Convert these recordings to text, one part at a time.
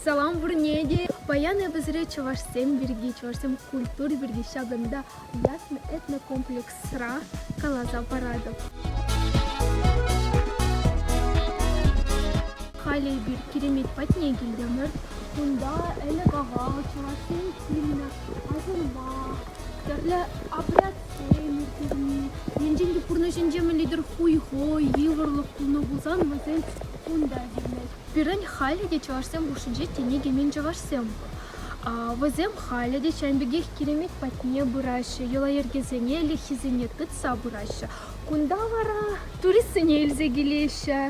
Салам пурне те! Паян эпӗсӗре чӑвашсем пирки, чӑвашсем культури пирки ҫакӑнта ятно этно комплексра каласа паратӑп. Халӗ эпир Киремет патне килтӗмӗр. Кунта ӗлӗк-авал чӑвашсен килнӗ асӑрпа, тӗрлӗ обрядсем ирттерни. Енчен те пурнӑҫӗнче мӗнле-тӗр хуйхо, йывӑрлӑх пулнӑ пулсан, вӗсем кунта килмест. Пирӗн халӗ те чӑвашсем хушшинче тени кӗмен чӑвашсем пур. Вӗсем халӗ те ҫавӑн пекех киремет патне пыраҫҫӗ, йӑла-йӗркесене, лӗххисене тытса пыраҫҫӗ. Кунта вара туристсене илсе килеҫҫӗ.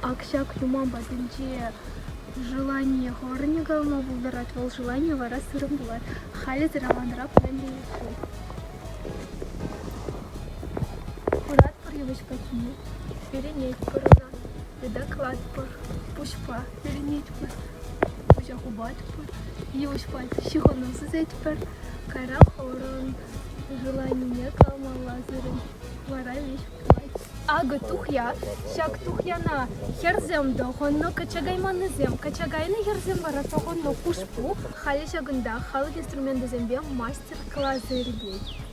Акҫак юман патӗнче желание хорне калама пултарать, вӑл желание вара сырӑм пулать. Халӗ те романра паян килесшӗн. Куратпӑр йывӑҫ каччине. Перӗнет пӑрӑна, Доклад-пӑр, Пуҫпа перӗнет-пӗр, Пуҫа хупать-пӗр, Йывӑҫпа ҫыхӑну сӗсетпӗр, Кайра хӑрӑн, Желанине калмалла сирӗн, Вара веҫ пулать. Акӑ тухья, ҫак тухьяна хӗрсем тӑхӑннӑ, качакайманнисем кача кайнӑ, хӗрсем вара тӑхӑннӑ хушпу. Халӗ ҫакӑнта халӑх инструментӗсемпе мастер-класс иртет.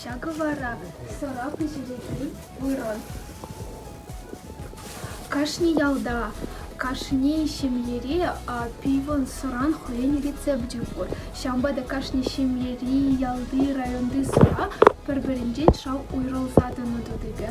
Ҫакӑ вара сӑрапа ҫӳрекен вырӑн. Кашни ялта, кашни ҫемьере пивӑн сӑран хӑйӗн рецепчӗ пур. Ҫавӑнпа та кашни ҫемьери, ялти, районти сӑра пӗр-пӗринчен шав уйрӑлса тӑнӑ тутипе.